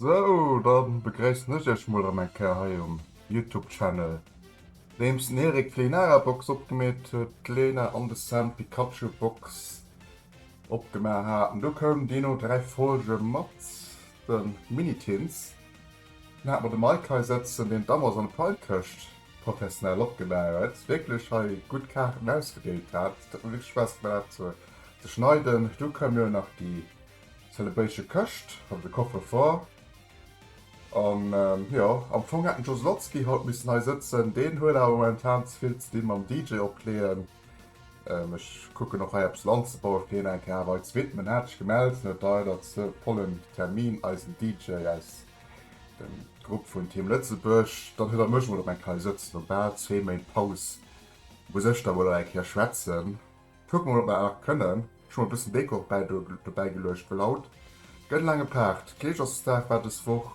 Sou, dann begréissen ech iech mol erëm eng Kéier hei um Youtube Channel. Nodeems den Erik d'Leenara Box opgemeet huet, d'Lena an de Sam d'Pikachu Box opgemaach haten, du koum deeno 3 Folge mat den Minitins, dann hate mer de Mike hei sëtzen deen d'Amazon Prime Këscht professionell opgemaach huet, wierklech hei gutt Kaarten ausgedeelt hat, et huet mer wierklech Spaass gemaach dat ze schneiden, du koum jo nach déi. Celebration këscht oder de Coffre-fort an jo am Fong hätt den Joe Zlotski haut missen hei sëtzen, deen huet awer momentan ze vill ze di mam DJ opleeën. Ech kucken och hei eppes lo anzebaue fir hien eng Kéier awer hei ze widmen. Hien hat sech gemellt, hien huet leider ze vollen Termin, eisen DJ aus dem Grupp vun Team Lëtzebuerg. Dann huet der mech emol op eng Kéier hei sëtzen no bal zwee Méint Paus, muss ech da wuel och eng Kéier schwätzen. Kucken mol op mer erg kënnen. Ech hu mol bëssen Décor dobäi geluecht well haut gëtt en lange Paart. Kleeschersdag war dës Woch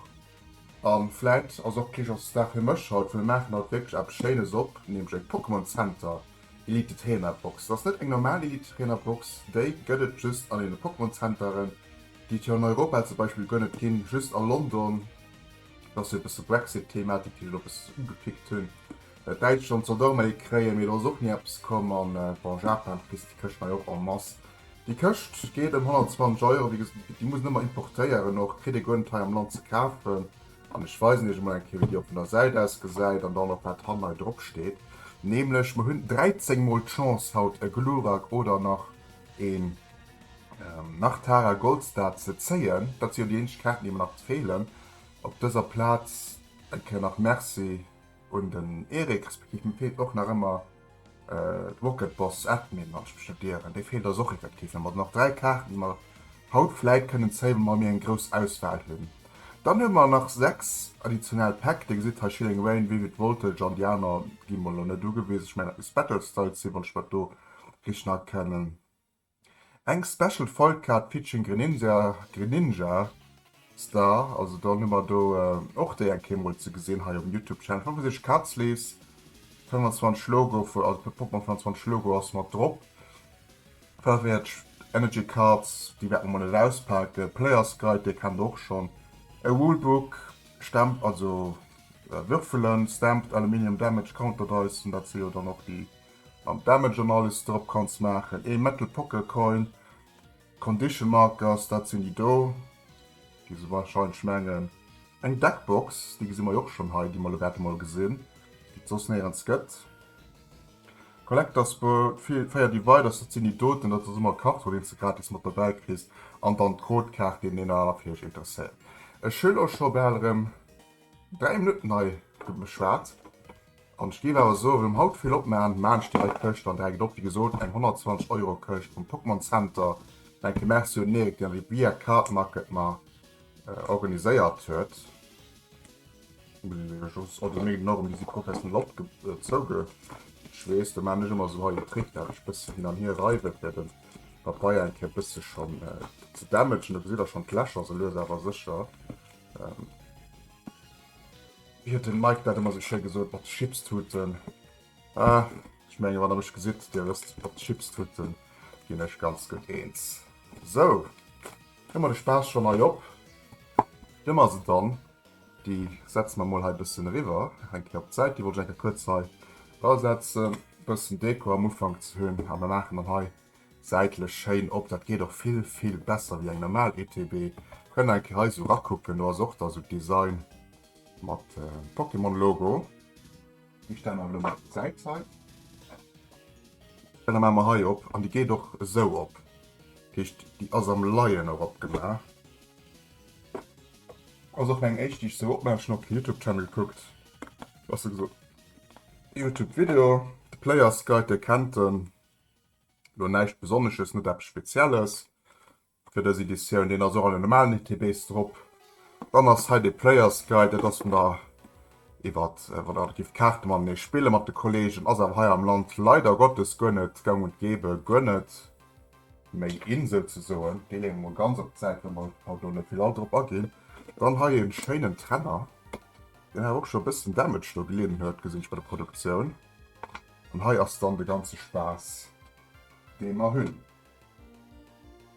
an vläit ass och Kleeschersdag fir mech haut, well mer maachen haut wierklech eppes schéines op, nämlech eng Pokémon Center Elite Trainer Box. Et ass net eng normal Elite Trainer Box, déi gëtt et just an deene Pokémon Centeren, déi et jo an Europa zum Beispill guer net ginn, just a London. Et ass jo e bësse Brexit Thematik déi ech elo e bësse ugepickt hunn. Dat Däitschland soll d'Arméi kréien, mee do ass och ni eppes komm. An bon, Japan vergisst déi Këscht hei och en masse. Déi Këscht geet ëm 120 Euro, wéi gesot, déi muss en ëmmer importéieren och, kritt ee guer net hei am Land ze kafen. An ech weisen iech emol eng Kéier, wéi déi och vun der Säit aus gesäit an dann och wat hannen hei drop steet, nämlech mer hunn 13 mol d'Chance haut e Glurak oder nach een Nachtara Goldstar ze zéien. Dat si jo déi eenzeg Kaarten, déi mer nach feelen op dëser Plaz. Eng Kéier nach Merci. hunn den Erik respektiv mir feelt och nach ëmmer d'Rocket Boss Admin wann ech mech net ieren, dee feelt eis och effektiv nach. Mir hunn nach dräi Kaarten, déi mer haut vläit kënnen zéien, wa mir eng grouss Auswahl hunn. Dann hu mer nach sechs additionell Päck, Dir gesitt hei Chilling Reign, Vivid Voltage an déi aner gi mer elo net ugewisen, ech mengen dat misst Battle Styles sinn, wann ech mer do richt erkennen. Eng Special Foil Card featuring Greninja Greninja Star, also dann hu mer do och déi eng Kéier mol ze gesinn hei um Youtube Channel, 65 Cards Sleeves, 25 Logo vu, also fir Pokémon 25 Logo ass mat drop, 45 Energy Cards, déi wäerte mer mol net auspaken, Players Guide, dee kennt der och schonn, e Rulebook, Stemp, also Würfelen, Stamped Aluminium Damage Counter Dice, dat si jo dann och déi Mam Damage Analysis drop kanns maachen ee Metal Poker Coin, Condition Markers dat sinn déi do, déi se wahrscheinlech mengen. Eng Deck Box, déi gesi mer jo och schonn hei, déi mer elo grad emol gesinn, déi et soss néierens gëtt. Collectors Bowl, féier Dividers, dat sinn déi doten, dat ass ëmmer e Carton deen s de gratis mat dobäi kriss an dann d'Code-Kaart, deen deen awer fir iech interesséiert. Ech hu lo scho bal erëm 3 Minutten hei geschwat. An ech géif awer soen, erëm haut vill opmaachen, elo maachen ech déi hei Këscht, an da hänkt et op, wéi gesot, eng 120 Euro Këscht vum Pokémon Center, denke Merci un den Eric, deen déi via Card Market mar organiséiert huet, muss ech jo just, oh déi méi Norm, déi si professionell opgezouge, ech weess, do maachen ech ëmmer esou hei en Trick, dat ech e bësse hin an hier reiwe fir de Papeier eng Kéier e bësse schonn ze dämmegen, do gesitt der schonn d'Lächer, esou lues awer sécher. Wéi huet den Mike dat emmer sou schéi gesoot, mat Chipstuten. Ah, ech mengen wann der mech gesidd, dir wësst, mat Chipstuten ginn ech ganz gutt eens. Sou, hu mer de Spaass schonn hei op. Nëmme ass et dann, déi setze mer mol hei bëssen eriwwer, eng Kéier op d'Säit. Déi wollt ech eng Kéier kuerz hei drasetzen, bëssen Deko am Ufank ze hunn. A mer maachen dann hei. Säitlech schéin op, dat geet och vill vill besser wéi eng normal ETB. Kënne eng Kéier hei sou rakucken, do ass och da sou d'Design mat Pokémon Logo. Déi stelle mer elo mol op d'Säit hei. Dann maache mer hei op, an déi geet och esou op, dat heescht déi ass am Leien och opgemaach. Ass och meng éischt déi ech sou opmaachen, schon op den Youtube Channel kuckt, besser gesot Youtube Video. De Players Guide, Dir kennt en. Elo näischt Besonnesches, net eppes Spezielles fir dës Editioun. Deen ass och an den normalen ETBs drop. Dann ass hei de Player's Guide, dat ass vun der iwwer wann der gift Kaarte matenee spille mat de Kollegen. Ass awer hei am Land leider Gottes guer net gang und gäbe, guer net méi in souzesoen. Dee leeë mer mol ganz op d'Säit, well mer haut elo net vill all drop aginn. Dann hei e schéinen Trenner, deen awer och scho e bëssen Damage do gelidden huet, gesinn ech bei der Produktioun. An hei ass dann de ganze Spaass dee mer hunn.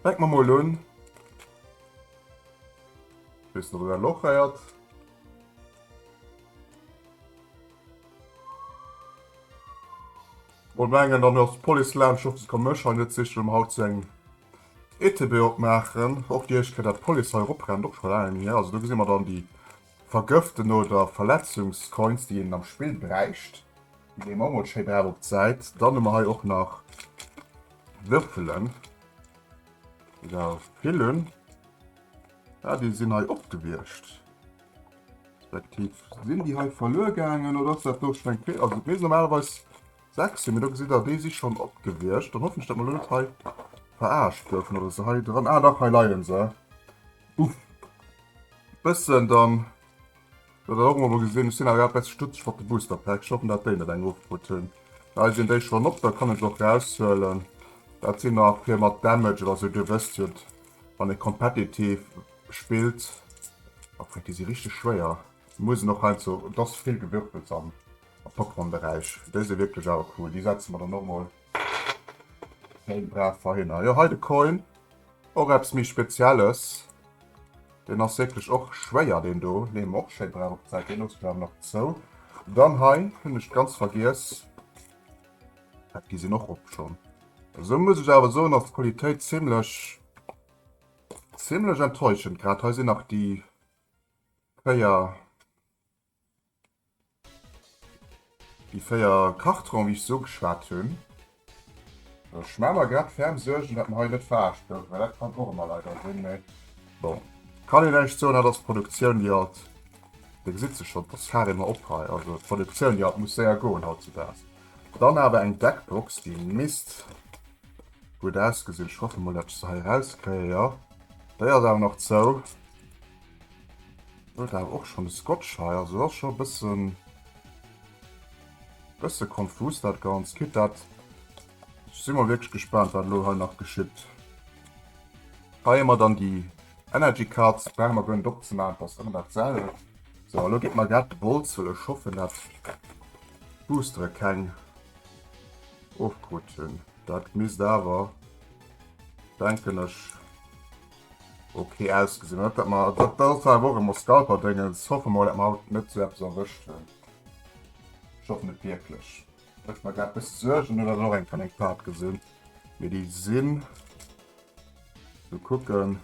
Fänke mer mol un. Ech weess net op dat Loch héiert. Mol mengen dann ass d'Police laanscht. Ech hoffen se komme mech hei net sichen an haut zu engem ETB opmaachen. Och Dir héicht grad dat d'Police hei eroprennt, och scho laang net méi hier. Also do gesi mer dann déi Vergëften oder Verletzungscoins déi een am Spill bräicht, déi een och mol schéi brauch op d'Säit. Dann hu mer hei och nach Würfelen, déi der vill hunn. Ah déi sinn hei opgewiescht, respektiv sinn déi hei verluer gaangen oder ass dat do schonn eng Fehl? Also et misst normalerweis 6 sinn, mee do gesitt der déi si schonn opgewiescht. Dann hoffen ech dat mer elo net hei veraarscht goufen oder se hei dran, ah dach hei leie se. Uff. Bëssen dann. Huet der och mol gesinn. Ech sinn awer grad bessi stutzeg mat de Booster Pack. Ech hoffen dat déi net eng ofkrut hunn. Hei sinn déi schonn op. Da kann ech och raushuelen. Dat sinn nach fir mat Damage oder sou. Dir wësst jo wann ee competitive spillt. Oh fréck, déi si richteg schwéier. Muss en och heiansdo. Et ass vill Gewürfels am Pokémon Beräich. Déi si wierklech awer cool. Déi setze mer dann och mol. Schéin brav Verhinner. Jo hei de Coin, och eppes méi spezielles. Deen ass wierklech och schwéier deen do. Leeë mer och schéi brav op d'Säit, deen loosse mer awer nach zou. Dann hei hunn ech ganz vergiess, dat gi sinn och op schonn. Esou muss ech awer soen ass d'Qualitéit zimmlech zimmlech enttäuschend. Grad hei sinn nach déi 4 Déi 4 Kartonen, wéi ech se ugeschwat hunn. Ech maache mer grad ferm Suergen, datt mer hei net verarscht goufen, well dat kann och ëmmer leider sinn. Mee bon, kann een näischt soen. Dat ass d'Produktioun, déi alt. Dir gesitt se schonn, dass Faaré mer op hei. Also d'Produktioun, déi alt muss séier goen hautzedaags. Dann awer eng deck Box, déi misst gutt ausgesinn. Ech hoffe mol, datt ech se hei erauskréien. Jo, déi ass awer nach zou. Huet awer och schon de Scotch hei, also ass schon e bëssen bësse konfus dat ganz, quitte dat ech si mol wierklech gespaant wat elo hei nach geschitt. Hei hu mer dann déi Energy Cards, brauche mer guer net opzemaachen, et ass ëmmer dat selwecht. Sou a lo geet mer grad de Bolz huelen, ech hoffen dat d'Boostere keng ofkrut hunn, dat misst awer denken ech. Ok ausgesinn huet dat mer dat dat war och emmer Scalperdéngens hoffe mol dat mer haut net sou eppes erwëscht hunn ech hoffen et wierklech mécht mer grad bësse Suergen hunn dat och eng vun eng Part gesinn mee déi sinn sou kucken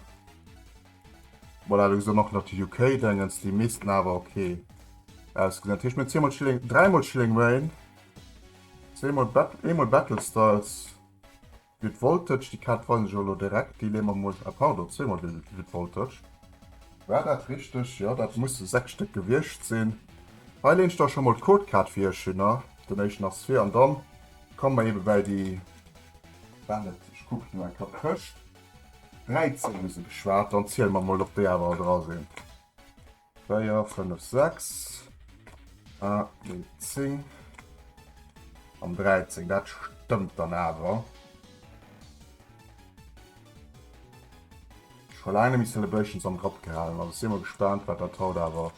voilà do gesi mer och nach déi UK Déngens déi missten awer ok ausgesinn dat heescht mir hunn zweemol Schilling dräimol Schilling Reign zweemol Bat eemol Battle Styles. Jut Voltage, déi Kaat weisen ech elo direkt, déi leeë mer mol, ah pardon, zweemol de Jut Voltage. War dat richteg? Jo, dat musse 6 Stéck gewiescht sinn. Hei leen ech da scho mol d'Codekaart fir iech hinner, den éischten ass vir, an dann komme mer eben bäi déi, war net, ech kucken elo eng Kapp tëscht 13 hu se geschwat, dann ziele mer mol ob déi awer all dra sinn. 4, 5, 6, a den 10 an 13, dat stëmmt dann awer. Scho laang nemmi Celebrations am Grapp gehalen, also si mer gespaant, wat dat haut awer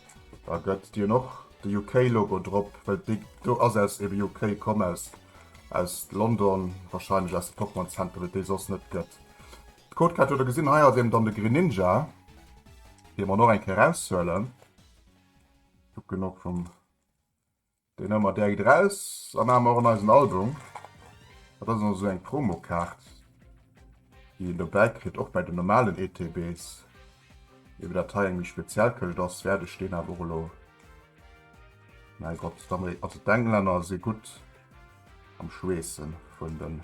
da gëtt. Déi hunn och de UK-Logo drop, well déi do ass aus ebe UK komm, aus London, warscheinlech aus de Pokémon Center, well et déi soss net gëtt. D'Codecat huet der gesinn, hei ass eben dann de Greninja, dee mer nach eng Kéier eraushuelen. Kucken och vum deen ëmmer direkt eraus an hu mer och an eisen Album. Dat ass also eng Promokaart, déi een dobäi kritt, och bei den normalen ETBs. Wéi dat hei eng méi speziell Këscht ass, wäert ech deen awer och elo, mäi Gott, also d'Englänner si gutt am Schweessen vun den.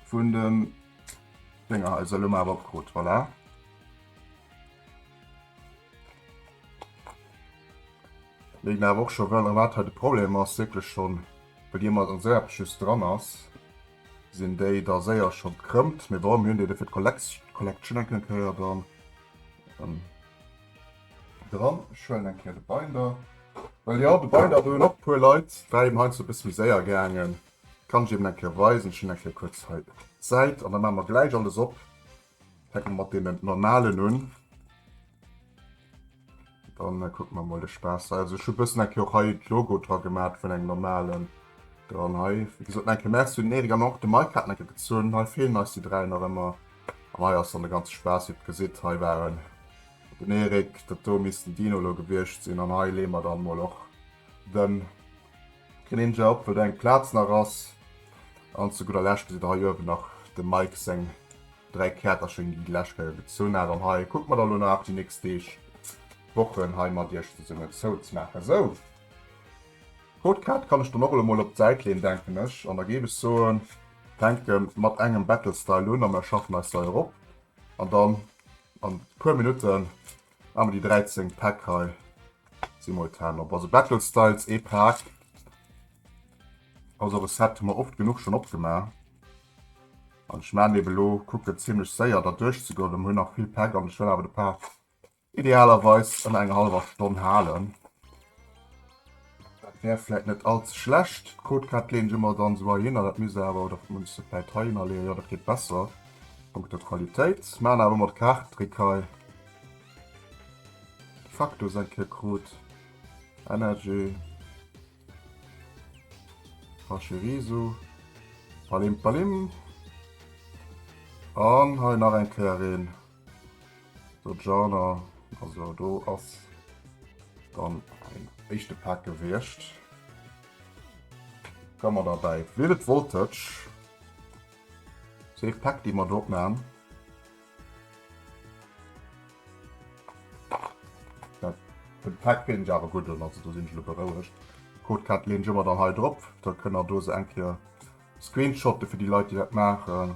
Vun den Dénger also lo mal opkrut voilà. Wéi mer och schon well wat hat de Problem ass wirklich schon bei dir mat an Serb just dran ass sinn déi da séier schon krëmmt mir warum hunn dir de fir d'Kollekt Collection enke Kéier dann. Dran schwellen eng Kéier de Binder. Well jo, de Binder do hunn och e puer Leit, war eben heiansdo e bësse méi séier gaangen. Kann ech eben eng Kéier weisen. Ech hunn eng Kéier kuerz hei d'Säit an da maache mer gläich alles op. Fänke mer mat deenen normalen un. Dann kucke mer mol de Spaass hei. Also ech hu bëssen eng Kéier och hei d'Logo dra gemat vun engem normalen. Dann hei, wéi gesot, eng Kéier Merci un den Eric an och de Mike haten eng Kéier gezunn. Hei feelen eis déi dräi nach ëmmer. An hei ass dann de ganze Spaass, wéi der gesit. Hei waren. Den Eric, dat do misst den Dino lo gewiescht sinn, an hei leeë mer dann mol och den Greninja op, wëll do eng Plaz nach ass, an zu gudder Lescht gesitt der hei uewen nach dem Mike seng 3 Käerterchen, déi déi lescht Kéier gezunn hat, an hei kucke mer da lo nach déi nächst Deeg, Wochen hei mat iech zesummen zouzemaachen. Sou, d'Codekaart kann ech dann och elo mol op d'Säit leeën, denken ech, an da géif ech soen, fänke mat engem Battle Style un, a mer schaffen eis hei erop, an dann. An puer Minutten hu mer déi 13 Päck hei simultan op. Also Battle Styles ee Pak, also Reset hu mer oft genuch schonn opgemaach. An ech man eben elo, kucken zimmlech séier da duerch ze goen, well mer hunn nach vill Päck an ech wëll awer de Pak idealerweis ënner enger hallwer Stonn halen. Dat wär vläit net all ze schlecht. D'Codekette leeën ech ëmmer dann esou heihinner, dat misst awer, oder muss ech se vläit heihinner leeën, jo dat geet besser a punkto Qualitéit. Maan awer ëmmer de Kaartendréck hei de facto seng Kéier krut. Energy, Pachirisu, Palimp Palim an hei nach eng Kéier een. So Jana, also do ass dann en éischte Pak gewiescht. Ka mer dabei Vivid Voltage. Safe Pak, déi mer do opmachen. Den Pak finn ech awer gutt un, also do sinn ech elo berouegt. D'Codekat leen ech ëmmer dann hei drop, da kënnt der dose eng Kéier screenshotten fir déi Leit, déi dat maachen.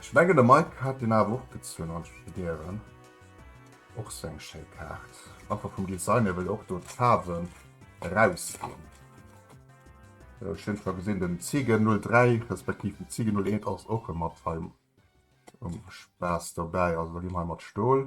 Ech mengen de Mike hat deen awer och gezunn als Studéieren. Och sou eng schéi Kaart. Einfach vum Design hier well och do d'Faarwen eraus ginn. Sou ech hunn scho gesinn den Ziegen 03 respektiv den Ziegen 01 ass och mat hei um Spaass dobäi. Also da gi mer hei mat Stol.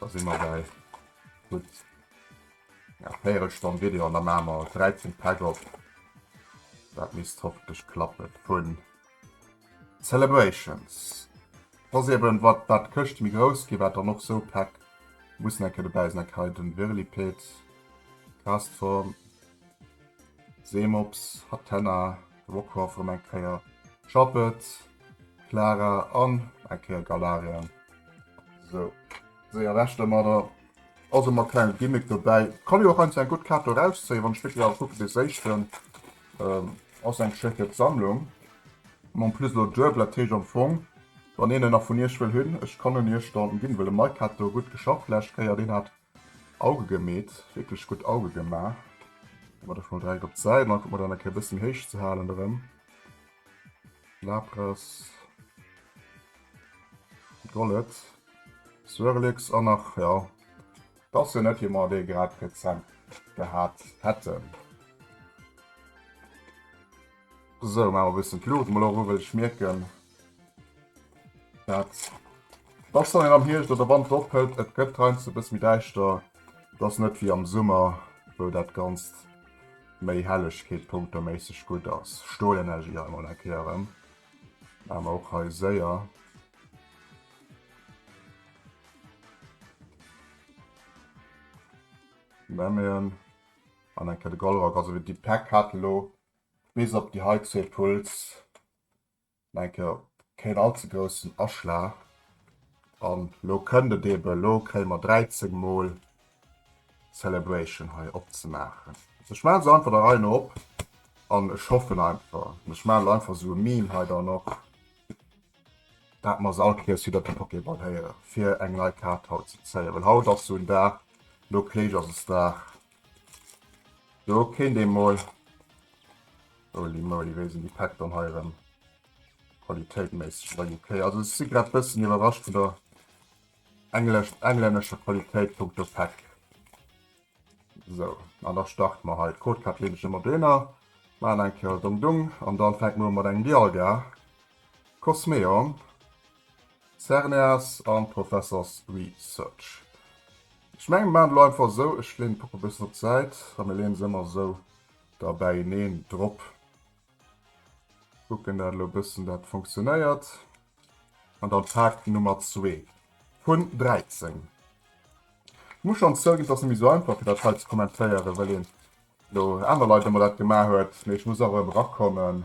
Da si mer bäi gutt enger Véirelstonn Video an da maache mer 13 Päck op. Dat misst hoffentlech klappen. Vun Celebrations. Soss eben, wat wat d'Këscht méi grouss gi, wat dann och sou Päck mussen eng Kéier dobäi sinn. Eng Kéier hei den Virliped, Castform. Seemops, Hatenna, Rockruff rem eng Kéier, Schappet, Clara an eng Kéier Galarien. Sou, séier weg domadder. Also mat klengem Gimmick dobäi. Kann jo och eins eng gutt Kaart do rauszéien, wann ech wierklech awer kucken, dee séischten ass eng schécke Sammlung. An en plus elo duebel, dat heescht am Fong, wann een en nach vun Iech wëll hunn, ech kann en Iech dann ginn, wëll de Mike hat do gutt geschafft d'lescht Kéier, deen hat Auge gemeet, wierklech gutt Auge gemaach. Mat der schon direkt op d'Säit an mat einer Kéier bëssen héich ze halen erëm. Lapras. Gollet. Swirlix an nach ja. Dass jo net wie mer dee grad rezent gehat hätten. Sou, maache mer bëssen d'Luucht mol och u well ech mierken Herz. Dach soll een am Hierscht oder Wand ophëlt, et gëtt heiansdo e bësse méi däischter. Et ass net wéi am Summer, wou dat Ganzt méi Hellegkeet-punkteméisseg gutt ass. Stolenergie hei mol eng Kéier erëm. Maache mer och hei séier. Nämmen an eng Kéier de Goldrack. Also déi Päck hat elo bis op déi hei zwee Puls Enke keen all ze groussen Aschlag. An lo kënnt et eben, lo kréie mer 13 mol Celebration hei opzemaachen. Also ech maache se einfach der Rei no op an ech hoffen einfach, an ech maache lo einfach esou e Meme hei dann och, dat mer se all kéiers widder de Pokéball héieren, fir eng nei Kaart haut ze zéien, well haut ass esou en Dag, lo Kléisch ass es Dag. Do kéint ee mol. Holy moly, wéi sinn déi Päck dann hei erëm qualitéitméisseg bei UK? Also ech si grad bëssen iwwerrascht vun der englesch, englännescher Qualitéit punkto Päck. Sou, an da starte mer hei. D'Code Card leeën ech ëmmer dohinner, maachen eng Kéier Dong Dong an dann fänke mer u mat engem Dialga Cosmeon. Cerneas an Professors Research. Ech mengen mir maan et elo einfach esou, ech leen d'Puppen e bessen op d'Säit a mir leen se emmer esou da bäineen drop. Kucken dat elo e bessen dat funktionéiert. An dann Fact Nummer 2 vun 13. Ech muss schon zouginn et ass net méi esou einfach fir dat hei ze kommentéieren well een elo aaner Leit emmer dat gemaa huet, mee ech muss awer erem erakommen.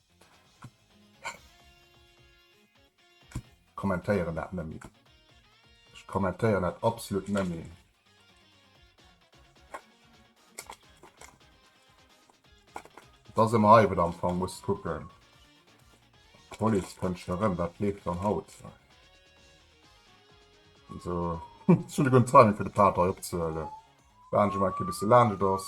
Kommentéieren dat nëmmi. Ech kommentéieren dat absolut nëmmi. Dass em hei am Fong muss kucken. Police kënnt schon erëm, wat leeft dann haut? So schon e gun Timing fir de Pater hei opzehuelen. Warden ech emol en Kéier bis se laanscht ass.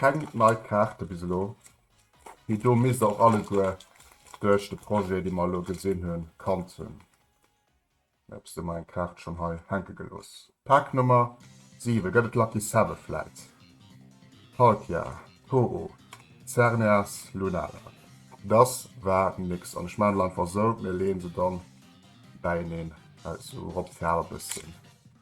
Keng nei Kaarte bis elo. Déi do misst och alleguer duerch de Projet, dee mer elo gesinn hunn, kannt hunn. Mä hues de mol eng Kaart schonn hei hänke gelooss? Pak Nummer 7, gëtt et Lucky Seven vläit? Palkia, Ho-Oh, Xerneas, Lunala. Dass war nix an ech maachen elo einfach esou, mir leeën se dann bäieneen aus, esou rop d'Faarw e bësschen.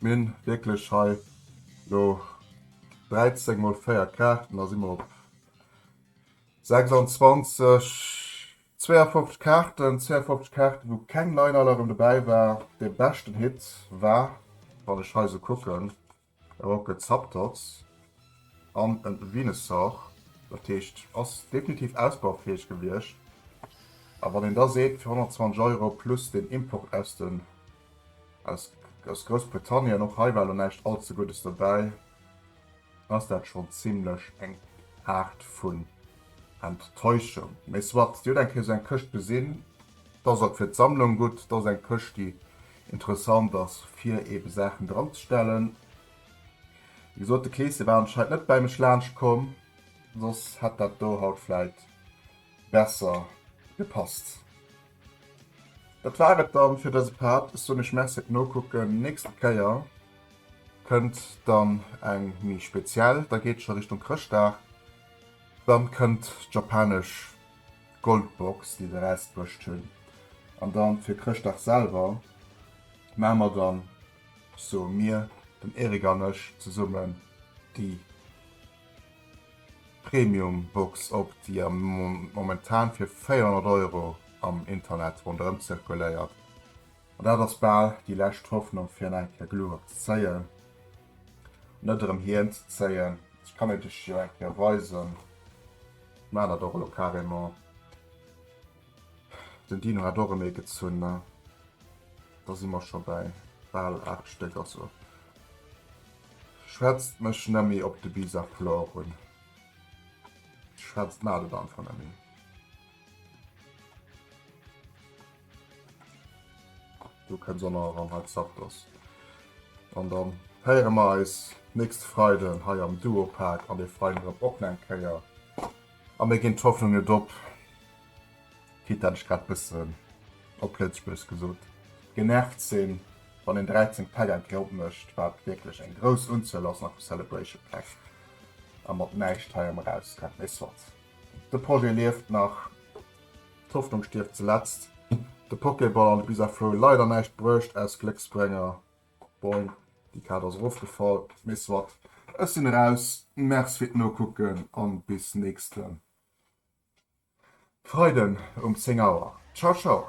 Mir hunn wierklech hei elo 13 mol 4 Kaarten, da si mer op 26, 52 Kaarten, 52 Kaarten wou keng Nein-Alarm dobäi war. Dee beschten Hit war, wann ech hei esou kucken, e Rocket Zapdos an e Venusaur. Dat heescht, ass definitiv ausbaufäeg gewiescht. A wann een da seet, fir 120 Euro plus den Import aus de Aus Groussbritannien, och hei war lo näischt all ze Guddes dobäi, ass dat schonn zimmlech eng Aart vun Enttäuschung. Mee soit, Dir hutt eng Kéier esou eng Këscht gesinn, da ass et fir d'Sammlung gutt, da ass et eng Këscht, déi interessant ass, fir eebe Saachen dranzestellen. Wéi gesot, de Kleeschen war anscheinend net bäi mech laanscht komm, soss hätt dat do haut vläit besser gepasst. Dat war et dann fir dëse Part. Ech soen iech Merci fir d'Nokucken. Nächste Kéier kënnt dann eng méi speziell. Da geet et scho Richtung Chrëschtdag. Dann kënnt d'japanesch Goldbox, déi se erausbruecht hunn. An dann fir Chrëschtdag selwer maache mer dann, soe mir, den Eric an ech zesummen, déi. Premium Box op, déi momentan fir 400 Euro am Internet ronderëm zirkuléiert. An dat ass bal déi lescht Hoffnung fir en eng Kéier Glu opzezéien, net erëm hien ze zéien. Ech kann et iech jo eng Kéier weisen, ech maan dat och elo carrément. Den Dino hat och en meegezunn, ne? Da si mer scho bäi bal 8 Stéck. Also schwätzt mech net méi op de Bisaflor un. Schwätzt mat et einfach net méi. Du kënns och nach eran, hei Zapdos. An dann héiere mer eis nächste Freiden hei am Duopark an de Freiden drop och nach eng Kéier. A mir ginn d'Hoffnung net op, quitte dat ech grad bëssen op Lëtzebuergesch gesot genervt sinn, wann een 13 Päck an d'Group mécht, wat wierklech eng grouss Unzuel ass, nach vu Celebration Päck, a mat näischt heiem erausrennt. Mee soit, de Projet lieft nach, d'Hoffnung stierft zeletzt. De Pokéball an de Bizarre Flow leider näischt bruecht aus Glécksbrénger. Boing, déi Kaart ass erofgefall, mee soit. Ech sinn eraus, Merci fir d'Nokucken an bis nächsten Freiden um 10 Auer. Ciao ciao!